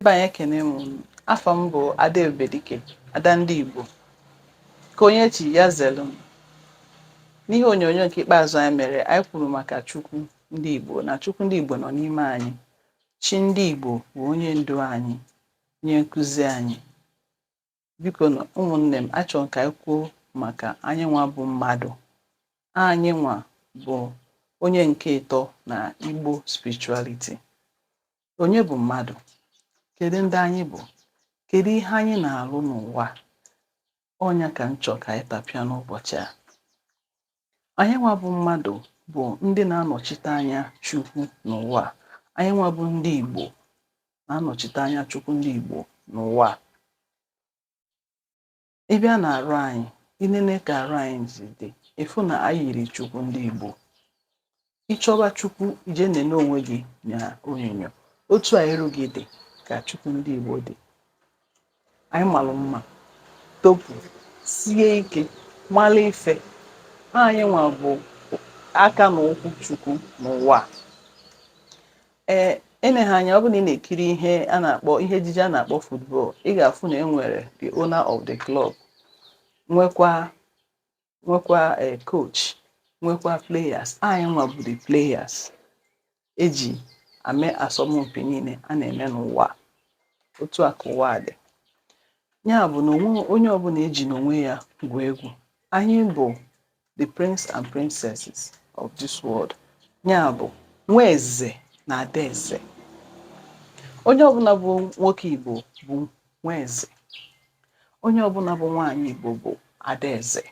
Ebe anyị ekene m unu. Afa m bụ Ada Ebubedike, Ada ndị Igbo. Ka onye chi ya zelu m. N'ihe onyonyo nke ikpeazụ anyị mere, anyị kwuru maka Chukwu ndị Igbo na Chukwu ndị Igbo nọ n'ime anyị. Chi ndị Igbo bụ onye ndu anyị, onye nkụzi anyị. biko nụ ụmụnne m achọrọ m ka anyị kwuo maka anyị nwa bụ mmadụ anyị nwa bụ onye nke ịtọ na Igbo spirituality onye bụ mmadụ kedu ndị anyị bụ kedu ihe anyị na-arụ n'ụwa ọ nya ka m chọrọ ka anyị tapịa n'ụbọchị a Anyị nwa bụ mmadụ bụ ndị na-anọchite anya Chukwu n'ụwa. Anyị nwa bụ ndị Igbo na-anọchite anya Chukwu ndị Igbo n'ụwa. Ị bịa na arụ anyị, i nene ka arụ anyị si dị, ị fụ na anyị yiri Chukwu ndị Igbo. ị chọba chukwu i je nene onwe gị na onyinyo otu a iru gị dị ka chukwu ndị igbo dị anyị malụ mma topu sie ike malụ ife anyị nwa bụ aka na ụkwụ chukwu n'ụwa ee eneghị anya ọ bụrụ na ị na-ekiri ihe ejije a na-akpọ football ị ga-afụ na e nwere the owner of the club nwekwa nwekwa coach nwekwa players anyị nwa bụ the players eji ame asọmpi niile a na-eme n'ụwa otu a ka ụwa dị nya bụ na onye ọbụna ejina onwe ya gwuo egwu anyị bụ the prince and princesses of this world nya bụ nwa eze na ada eze onye ọbụna bụ nwoke igbo bụ Nwaeze. Onye ọbụna bụ nwaanyị Igbo bụ adaeze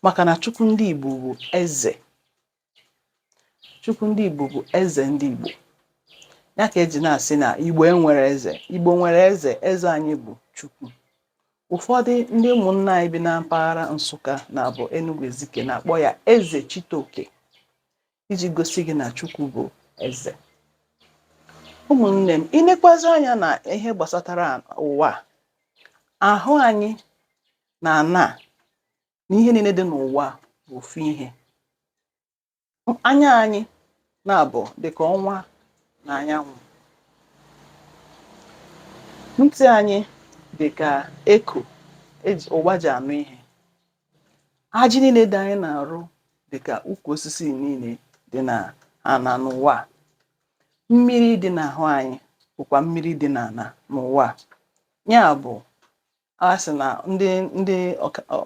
maka na Chukwu ndị Igbo bụ eze. Chukwu ndị Igbo bụ eze ndị Igbo. Ya ka eji na-asị na Igbo enwerọ eze. Igbo nwere eze, eze anyị bụ Chukwu. Ụfọdụ ndị ụmụnna anyị bi na mpaghara Nsụka nya bụ Enugu Ezike na-akpọ ya Eze Chitoke. iji gosi gị na Chukwu bụ eze ụmụnne m i nekwazị anya na ihe gbasatara ụwa ahụ anyị na ana na ihe niile dị n'ụwa bụ ofu ihe anya anyị na-abụ dịka ọnwa na anyanwụ ntị anyị dịka eko ụwa ji anụ ihe ajị niile dị anyị n'arụ dị ka ukwu osisi niile dị na ana n'ụwa. mmiri dị n'ahụ anyị bụkwa mmiri dị n'ana n'ụwa. ya bụ a sị na ndị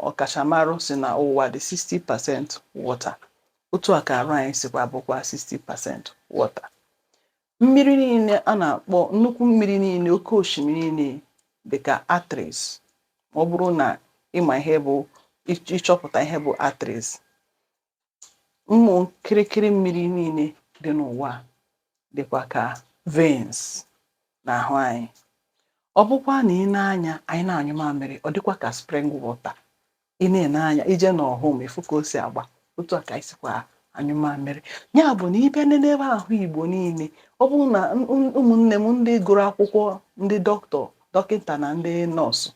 ọkachamarụ sị na ụwa dị 60 percent water otu a ka arụ anyị sikwa bụkwa 60 percent water Mmiri niile a na-akpọ nnukwu mmiri niile oke osimiri niile dị ka arteries ma ọ bụrụ na ị ma ihe bụ ị chọpụta ihe bụ arteries ụmụ kịrịkịrị mmiri niile dị n'ụwa dịkwa ka veins n'ahụ anyị ọ bụkwa na ị nee anya anyị na-anyụ mamịrị ọ dịkwa ka spring water ị na-ene anya ị jee n'ọhụm ị fụ ka o si agba otu a ka anyị sikwa anyụ mamịrị ya bụ na ị bịa nenebe ahụ igbo niile ọ bụrụ na m- m- ụmụnne m ndị gụrụ akwụkwọ ndị dọkịta dọkịta na ndị nọọsụ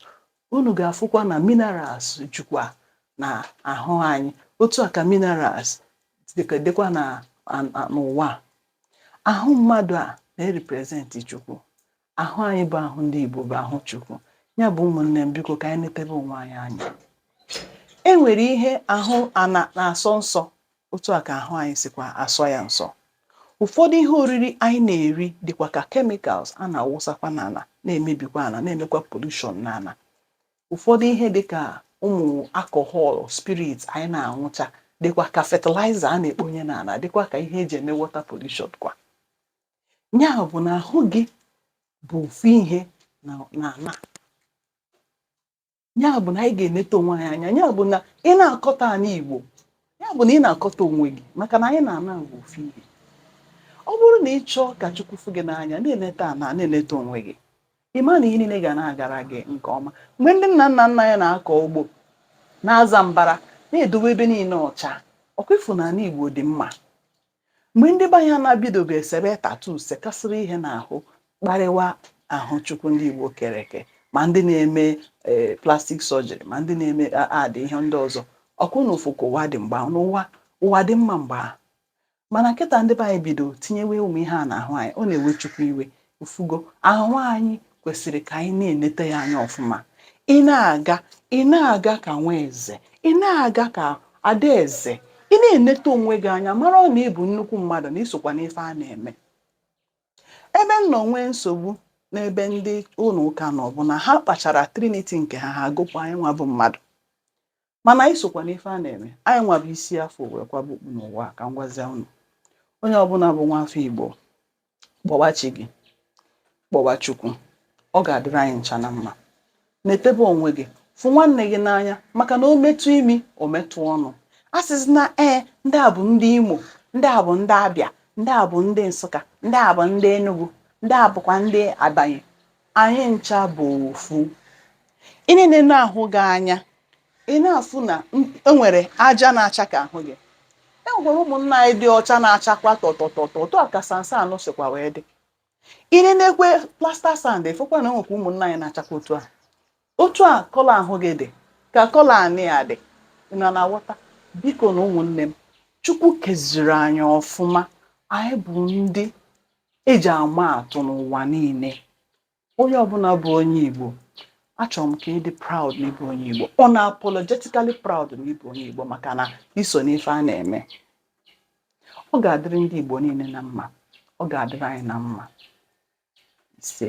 unu ga-afụkwa na minerals jukwa n'ahụ anyị otu a ka minerals dịka- dịkwa na a- a- n'ụwa a. ahụ mmadụ a na-erepresenti chukwu Ahụ anyị bụ ahụ ndị Igbo bụ ahụ Chukwu. Ya bụ ụmụnne m biko ka anyị netebe onwe anyị anya. E nwere ihe ahụ ana na-asọ nsọ otu a ka ahụ anyị sikwa asọ ya nsọ. Ụfọdụ ihe oriri anyị na-eri dịkwa ka chemicals a na-awụsakwa n'ana na-emebikwa ana na-emekwa pollution n'ana. Ụfọdụ ihe dịka ụmụ alcohol, spirit anyị na-aṅụcha dịkwa ka fertilizer a na-ekponye n'ana dịkwa ka ihe e ji eme water pollution kwa. Ya bụ na ahụ gị bụ ofu ihe na ana. Ya bụ na anyị ga-eneta onwe anyị anya. Ya bụ na ị na-akọta ana Igbo, ya bụ na ị na-akọta onwe gị maka na anyị na ana bụ ofu ihe. Ọ bụrụ na ị chọọ ka Chukwu fụ gị n'anya, na-eneta ana, na-eneta onwe gị, ị ma na ihe niile ga na-agara gị nke ọma. Mgbe ndị nna nna nna anyị na-akọ ugbo, na-aza mbara, na-edowe ebe niile ọcha, ọ kwa ị fụ na ana Igbo dị mma. mgbe ndị be anyị na-abidobe esebe tattoo sekasịrị ihe n'ahụ kparịwa ahụ chukwu ndị igbo kere eke ma ndị na-eme e, plastic surgery ma ndị na-eme ụdị ihe ndị ọzọ ọ kwa unu fụ ka ụwa dị mgbe ahụ na ụwa dị mma mgbe ahụ mana kịta ndị be anyị bido tinyewe ụmụ ihe a n'ahụ anyị ọ na-ewe chukwu iwe ị fụgo ahụ anyị kwesịrị ka anyị na-enete ya anya ọfụma ị na-aga ị na-aga ka nwa eze ị na-aga ka adaeze ị na-enete onwe gị anya mara na ị bụ nnukwu mmadụ na i sokwa n'ife a na-eme ebe m nọ nwee nsogbu n'ebe ndị ụnọ ụka nọ bụ na ha kpachara trinity nke ha ha gụpụ anyị nwa bụ mmadụ mana anyị sokwa n'ife a na-eme anyị nwa bụ isi a fụ wee kwaba okpu n'ụwa ka m gwazie unu onye ọbụla bụ nwa afọ igbo kpọwa chi gị kpọwa chukwu ọ ga-adịrị anyị ncha na mma netebe onwe gị fụ nwanne gị n'anya maka na o metụ imi o metụ ọnụ a sịzi na ee ndị a bụ ndị imo ndị a bụ ndị abịa ndị a bụ ndị nsụka ndị a bụ ndị enugu ndị a bụkwa ndị ebonyi Anyị ncha bụ ofu. Ị na-enene ahụ gị anya, ị na-afụ na e nwere aja na-acha ka ahụ gị. E nwekwara ụmụnna anyị dị ọcha na-achakwa tọtọtọtọ, otu a ka sansan ahụ sikwa wee dị. Ị na-enekwe plaster sand, ị fụkwa na e nwekwa ụmụnna anyị na-achakwa otu a. otu a colour ahụ gị dị ka colour anị a dị ị na na-aghọta bikonu ụmụnne m chukwu keziri anyị ọfụma anyị bụ ndị e ji ama atụ n'ụwa niile onye ọbụla bụ onye igbo achọrọ m ka ị dị proud na ị bụ onye igbo unapologetically proud na ị bụ onye igbo maka na i so n'ife a na-eme ọ ga-adịrị ndị igbo niile na mma ọ ga-adịrị anyị na mma ise